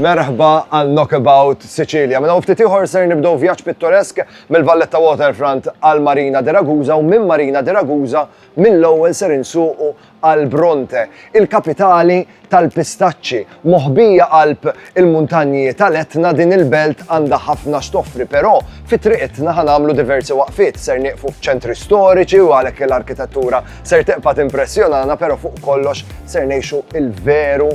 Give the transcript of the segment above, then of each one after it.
Merħba għal Knockabout Sicilia. Mela ftit ieħor ser nibdew vjaġġ pittoresk mill-Valletta Waterfront għal Marina de Ragusa u minn Marina de Ragusa mill-ewwel ser insuqu għal Bronte, il-kapitali tal-pistaċċi. Moħbija qalb il-muntanji tal-Etna din il-belt għandha ħafna x'toffri, però fi triqitna ħanamlu diversi waqfiet ser nieqfu f'ċentri storiċi u għalhekk l-arkitettura ser teqpa' timpressjonana, però fuq kollox ser ngħixu il-veru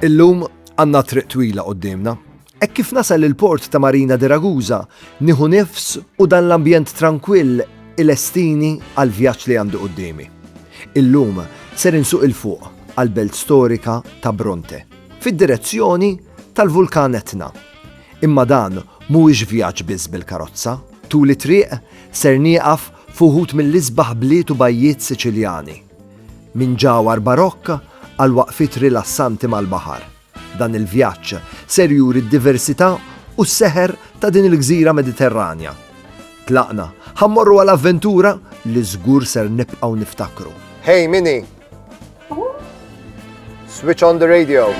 Illum għanna triq twila qoddimna. E kif nasal il-port ta' Marina de Ragusa, nieħu nifs u dan l-ambjent tranquill il-estini għal vjaġġ li għandu qoddimi. Illum ser insuq il-fuq għal-belt storika ta' Bronte, fid-direzzjoni tal-vulkan Etna. Imma dan mhuwiex vjaġġ biss bil-karozza. Tul it-triq ser nieqaf f'uħud mill-isbaħ bliet u bajjiet Siċiljani. Minn ġawhar barokk għal waqfiet rilassanti mal-baħar, dan il-vjaġġ ser juri d-diversità u s-seħer ta' din il-gżira Mediterranja. Tlaqna ħa mmorru għal avventura li żgur ser nibqgħu niftakru. Hey, min hi? Switch on the radio.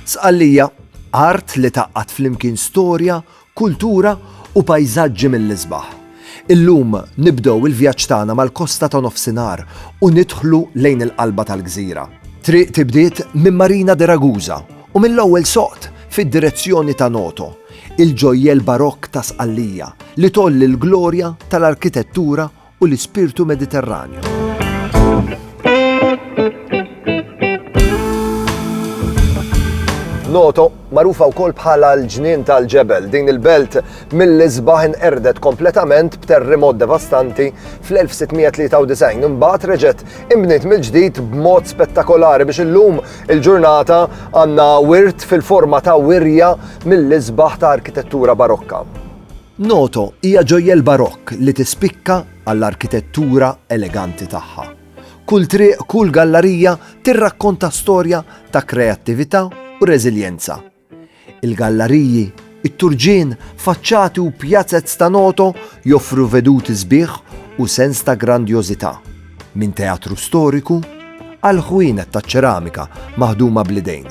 Sqallija, art li taqqat flimkien storja kultura u pajżaġġi mill-isbaħ. Illum nibdew il-vjaġġ tagħna mal-kosta ta' Nofsinhar u nidħlu lejn il-qalba tal-gżira. Triq tibdiet minn Marina de Ragusa u mill-ewwel soqt fid-direzzjoni ta' Noto, il-ġojjell barokk ta' Sqallija li tgħolli l-glorja tal-arkitettura u l-ispirtu Mediterranju. Noto, magħrufa wkoll bħala l-ġnien tal-ġebel, din il-belt mill-isbaħ inqerdet kompletament b'terremot devastanti fl-1693. Imbagħad reġgħet imbniet mill-ġdid b'mod spettakolari biex illum il-ġurnata għandna wirt fil-forma ta' wirja mill-isbaħ ta' arkitettura barokka. Noto hija ġojjel Barokk li tispikka għall-arkitettura eleganti tagħha. Kull triq, kull gallarija tirrakkonta storja ta' kreattività u reżiljenza. Il-gallariji, it-turġien, faċċati u pjazez ta' Noto joffru veduti sbieħ u sens ta' grandjożità. Minn teatru storiku għal ħwienet taċ-ċeramika maħduma bl-idejn,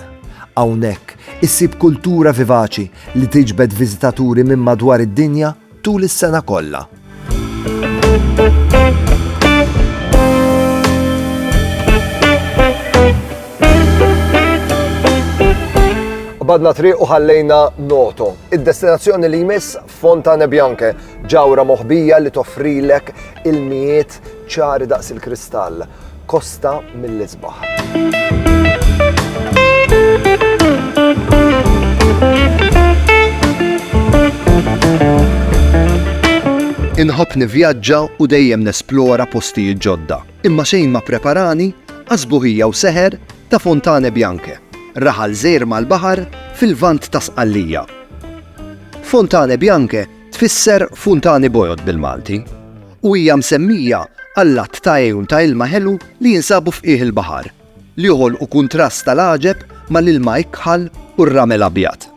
hawnhekk issib kultura vivaċi li tiġbed viżitaturi minn madwar id-dinja tul is-sena kollha. Qbadna triq u ħallejna Noto, id-destinazzjoni li jmiss Fontane Bianche, ġawra moħbija li toffrilek ilmijiet ċari daqs il-kristall, kosta mill-isbaħ. Inħobb nivvjaġġa u dejjem nesplora postijiet ġodda. Imma xejn ma ppreparani għas sbuħija u seħer ta' Fontane Bianche, raħal żgħir mal-baħar fil-Lvant ta' Sqallija. Fontane Bianche tfisser funtani bojod bil-Malti u hija msemmija għall-għadd ta' għejun ta' ilma ħelu li jinsabu f'qiegħ il-baħar. li joħolqu kuntrast tal-għaġeb mal-ilma ikħal u r-ramel abjad.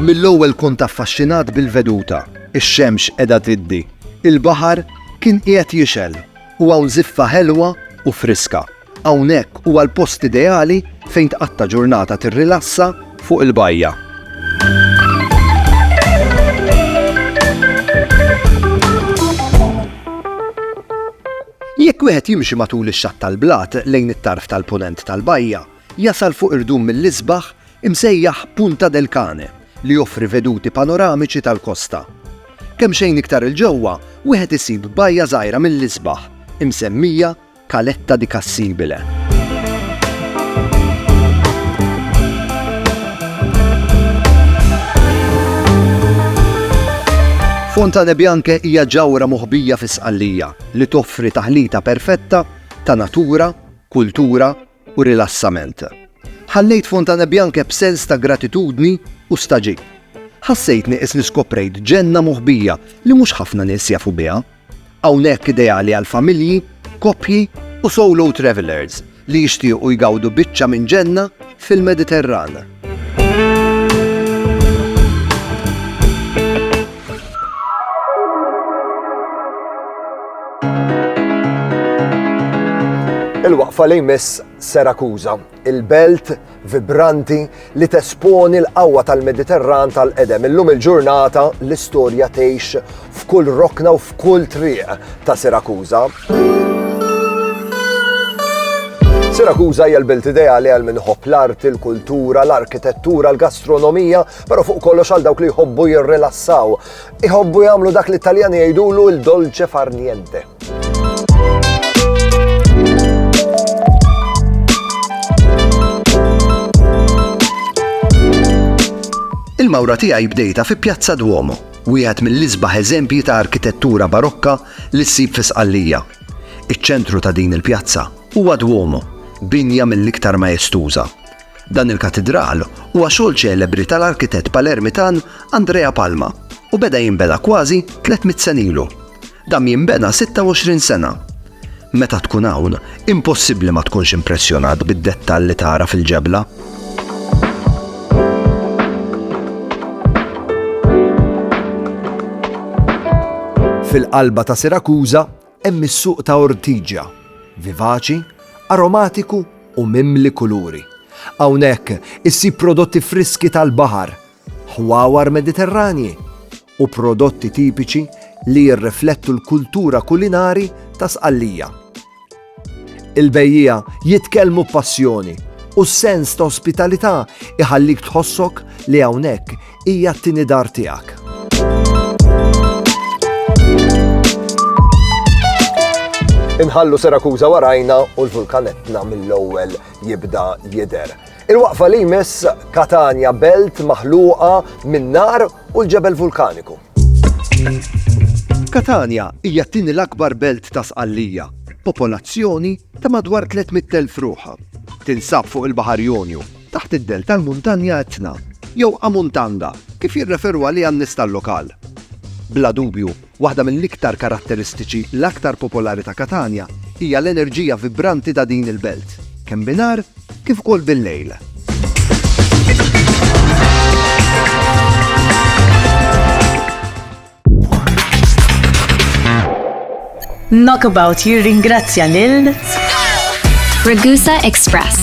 Mill-ewwel kont affaxxinat bil-veduta, ix-xemx qiegħda tiddi, il-baħar kien qiegħed jixgħel u hawn żiffa ħelwa u friska. Hawnhekk huwa l-post ideali fejn tqatta' ġurnata tirrilassa fuq il-bajja. Jekk wieħed jimxi matul ix-xatt tal-blat lejn it-tarf tal-Punent tal-bajja, jasal fuq irdum mill-isbaħ imsejjaħ Punta del Cane li joffri veduti panoramiċi tal-kosta. Kemxejn iktar 'il ġewwa, wieħed isib bajja żgħira mill-isbaħ, imsemmija Caletta di Cassibile. Fontane Bianche hija ġawra moħbija fi Sqallija li toffri taħlita perfetta ta' natura, kultura u rilassament. Ħallejt Fontanebbianche b'sens ta' gratitudni u stagħġib. Ħassejt nieqes li skoprejt ġenna moħbija li mhux ħafna nies jafu biha. Hawnhekk ideali għal familji, koppji u solo travellers li jixtiequ jgawdu biċċa minn ġenna fil-Mediterran. Il-waqfa li jmiss Serakuza, il-belt vibranti li tesponi l-qawwa tal-Mediterran tal-qedem. Illum il-ġurnata l-istorja tgħix f'kull rokna u f'kull triq ta' Serakuza. Sirakuża hija l-belt ideali għal min ħobb l-art, il-kultura, l-arkitettura, l-gastronomija, però fuq kollox għal dawk li jħobbu jirrilassaw. Iħobbu jagħmlu dak li Taljani jgħidulu l-dolce far niente. Il-mawra tiegħi bdejta fi Pjazza Duomo, wieħed mill-isbaħ eżempji ta' arkitettura barokka li ssib fi Sqallija. Iċ-ċentru ta' din il-pjazza huwa Duomo, binja mill-iktar maestuża. Dan il-katidral huwa xogħol ċelebri tal-arkitett Palermitan Andrea Palma u beda jinbena kważi 300 sena ilu. Dam jinbena 26 sena. Meta tkun hawn, impossibbli ma tkunx impressjonat bid-dettall li tara fil-ġebla. Fil-qalba ta' Sirakuża hemm is-suq ta' Ortigia, vivaċi, aromatiku u mimli kuluri. Hawnhekk issib prodotti friski tal-baħar ħwawar Mediterranji u prodotti tipiċi li jirriflettu l-kultura kulinari ta' Sqallija. Il-bejjiegħa jitkellmu b'passjoni u s-sens ta' ospitalità iħallik tħossok li hawnhekk hija t-tieni dar tiegħek. Inħallu Sirakuża warajna u l-vulkan Etna mill-ewwel jibda jidher. Il-waqfa li jmiss Katanja belt maħluqa min-nar u l-ġebel vulkaniku. Katanja hija t-tieni l-akbar belt ta' Sqallija, popolazzjoni ta' madwar 300,000 ruħ. Tinsab fuq il-Baħar Jonju, taħt id-dell tal-Muntanja Etna, jew Amuntanda, kif jirreferu għaliha n-nies tal-lokal. Bla dubju, Waħda mill-iktar karatteristiċi l-aktar popolari ta' Katanja hija l-enerġija vibranti ta' din il-belt, kemm binhar kif ukoll bil-lejl. Knockabout jirringrazzja lil Ragusa Express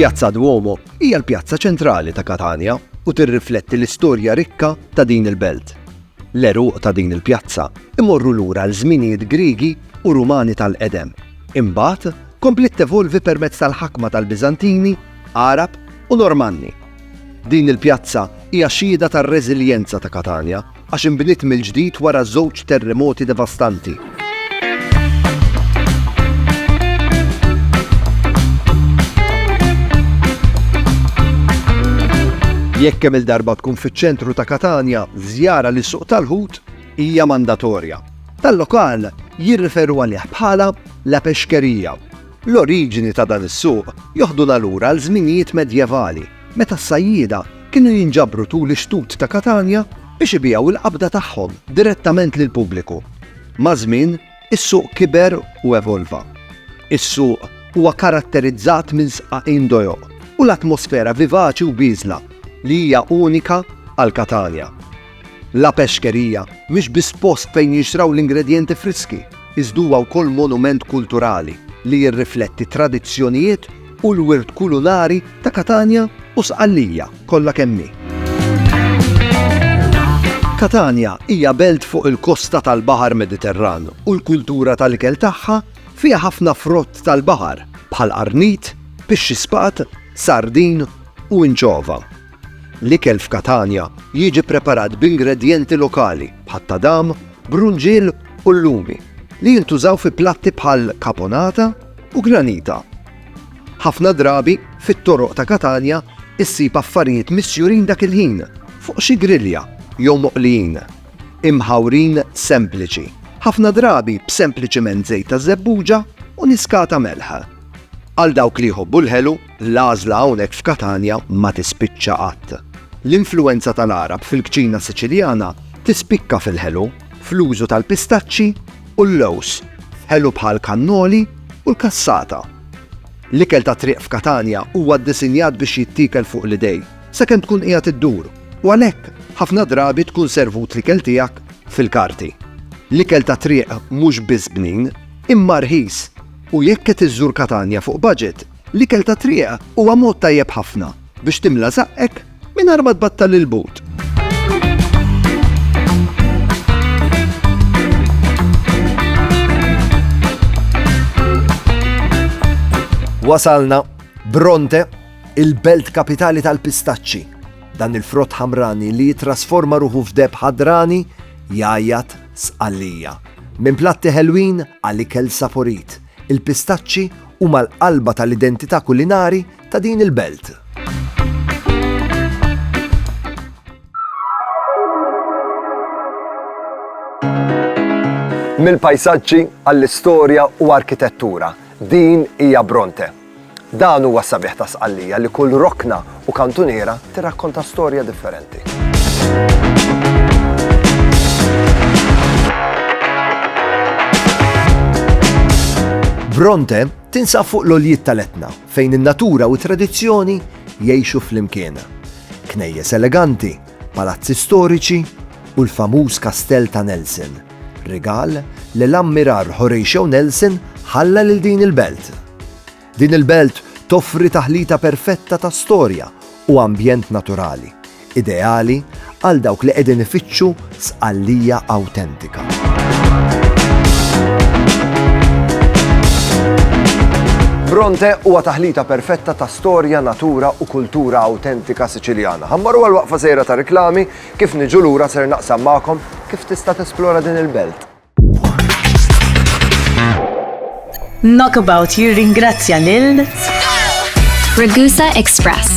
Pjazza Duomo hija l-pjazza ċentrali ta' Katania u tirrifletti l-istorja rikka ta' din il-belt. L-eruq ta' din il-pjazza imorru lura l-żminijiet Griegi u Rumani tal-qedem. Imbagħad kompliet tevolvi permezz tal-ħakma tal-Biżantini, Għarab u Normanni. Din il-pjazza hija xhieda tar-reżiljenza ta' Katania għax inbniet mill-ġdid wara żewġ terremoti devastanti. Jekk kemm-il darba tkun fiċ-ċentru ta' Katanja, żjara lis suq tal-ħut hija mandatorja. Tal-lokal jirriferu għalih bħala la pexkerija. L-oriġini ta' dan is-suq joħduna lura għal żminijiet medjevali meta s-sajjieda kienu jinġabru tul ix-xtut ta' Katanja biex ibigħu il-qabda tagħhom direttament lill-pubbliku. Maż-żmien, is-suq kiber u evolva. Is-suq huwa karatterizzat minn sqaqin dojoq u l-atmosfera vivaċi u bieżla li hija unika għal Katanja. La Pescheria mhix biss post fejn jinxtraw l-ingredjenti friski, iżda huwa wkoll monument kulturali li jirrifletti t-tradizzjonijiet u l-wirt kulinari ta' Katanja u Sqallija kollha kemm hi. Katanja hija belt fuq il-kosta tal-Baħar Mediterran u l-kultura tal-ikel tagħha fiha ħafna frott tal-baħar bħal qarnit, pixxi spat, sardin u inċova. L-ikel f'Katanja jiġi preparat b'ingredjenti lokali bħat-tadam, brunġiel u llumi li jintużaw fi platti bħal caponata u granita. Ħafna drabi, fit-toroq ta' Katanja ssib affarijiet misjurin dak il-ħin fuq xi grilja jew moqlijin, imħawrin sempliċi, ħafna drabi b'sempliċiment żejt ta' żebbuġa u niskata melħ. Għal dawk li jħobbu l-ħelu, L-għażla hawnhekk f'Katanja ma tispiċċa qatt. L-influwenza tal-Għarab fil-kċina Siċiljana tispikka fil-ħelu, fl-użu tal-pistaċċi u l-lewż, f'ħelu bħal kannoli u l-cassata. L-ikel tat-triq f'Katanja huwa ddisinjat biex jittiekel fuq l-idejn, sakemm tkun qiegħed iddur, u għalhekk ħafna drabi tkun servut l-ikel tiegħek fil-karti. L-ikel tat-triq mhux biss bnin, imma rħis, u jekk qed iżżur Katanja fuq baġit, L-ikel tat-triq huwa mod tajjeb ħafna biex timla żaqqek mingħajr ma tbattal il-but. Wasalna Bronte, il-belt kapitali tal-pistaċċi. Dan il-frott ħamrani li jitrasforma ruħu f'deb ħadrani jajat sqallija. Minn platti ħelwin għal ikel saporit Il-pistaċċi huma l-qalba tal-identità kulinari ta' din il-belt. Mill-pajsaġġi għall-istorja u arkitettura, din hija Bronte. Dan huwa s-sabiħ ta' Sqallija li kull rokna u kantuniera tirrakkonta storja differenti. Bronte tinsab fuq l-oljiet tal-etna fejn in-natura u t-tradizzjoni jgħixu flimkien. Knejjes eleganti palazzi storiċi u l-famuż Kastell ta' Nelson, rigal li l-Ammirar Horatio Nelson ħalla lil din il-belt. Din il-belt toffri taħlita perfetta ta' storja u ambjent naturali, ideali għal dawk li qegħdin ifittxu Sqallija awtentika. Bronte huwa taħlita perfetta ta' Storja, natura u kultura awtentika Siċiljana. Ħammaru għal waqfa sejra ta' riklami, kif niġu lura ser naqsam magħkom kif tista' tesplora din il-belt. Knockabout jirringrazzja lil Ragusa Express.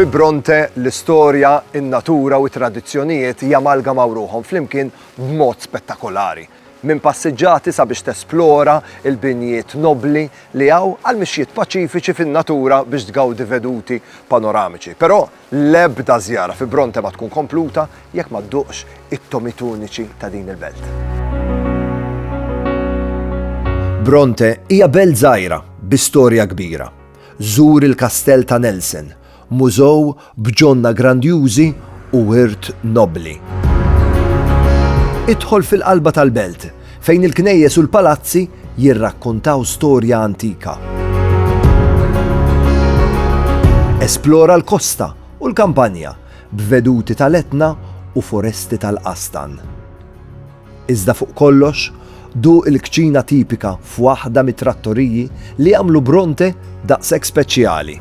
Fi Bronte, l-istorja, in-natura u t-tradizzjonijiet jamalgamaw ruħhom flimkien b'mod spettakolari. Minn passiġġati sabiex tesplora l-binjiet nobbli li hawn għal mixjiet paċifiċi fin-natura biex tgawdi veduti panoramiċi. Però L-ebda żjara fi Bronte ma tkun kompluta jekk ma dduqx it-tomit uniċi ta' din il-belt. Bronte hija belt żgħira bi storja kbira. Żur il-Kastell ta' Nelson, mużew b'ġonna grandjużi u wirt nobbli. Idħol fil-qalba tal-belt, Fejn il-knejjes u l-palazzi jirrakkontaw storja antika. Esplora l-kosta u l-kampanja b'veduti tal-Etna u foresti tal-qastan. Iżda fuq kollox, duq il-kċina tipika f'waħda mit-trattoriji li għamlu Bronte Daqshekk speċjali.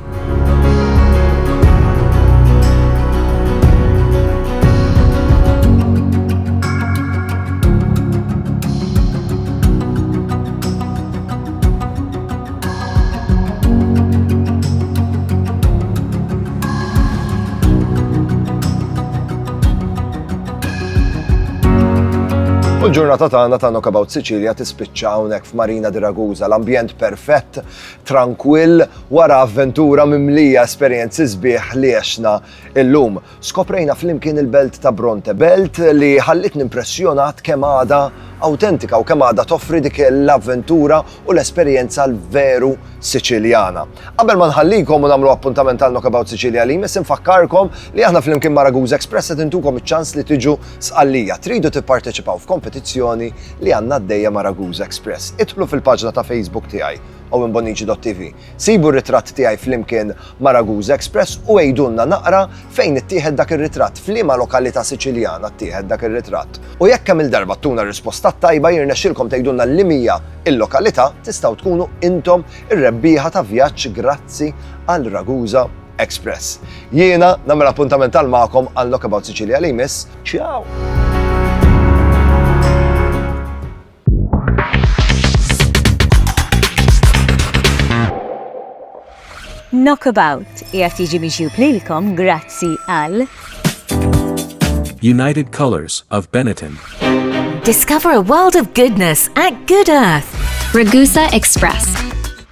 Il-ġurnata tagħna ta' Knockabout Sicilia tispiċċa hawnhekk f'Marina di Ragusa, l-ambjent perfett Trankwill, wara avventura mimlija esperjenzi sbieħ li għexna illum. Skoprejna flimkien il-belt ta' Bronte, belt li ħallitni impressjonat kemm għadha awtentika u kemm għadha toffri dik l-avventura u l-esperjenza l-veru Siċiljana. Qabel ma nħallikom u nagħmlu appuntament għal Knockabout Sicilia li jmiss infakkarkom li aħna flimkien ma' Ragusa Express qed intukom iċ-ċans li tiġu Sqallija, Tridu tipparteċipaw f'kompetizzjoni li għandna għaddejja ma' Ragusa Express? Idħlu fil-paġna ta' Facebook tiegħi, owenbonici.tv. Sibu r-ritratt tiegħi flimkien ma' Ragusa Express u għidulna naqra fejn ittieħed dak ir-ritratt, f'liema lokalità Siċiljana ttieħed dak ir-ritratt. U jekk kemm-il darba ttuna r-risposta t-tajba jirnexxilkom tgħidulna liema hija l-lokalità, tistgħu tkunu intom ir-rebbieħa ta' vjaġġ grazzi għal Ragusa. Express. Jiena nagħmel appuntament tal magħkom għal Knockabout Sicilia li jmiss. Ciao! Knockabout jgħat jiġi miġjub lilkom grazzi għal United Colors of Benetton. Discover a world of goodness at Good Earth. Ragusa Express.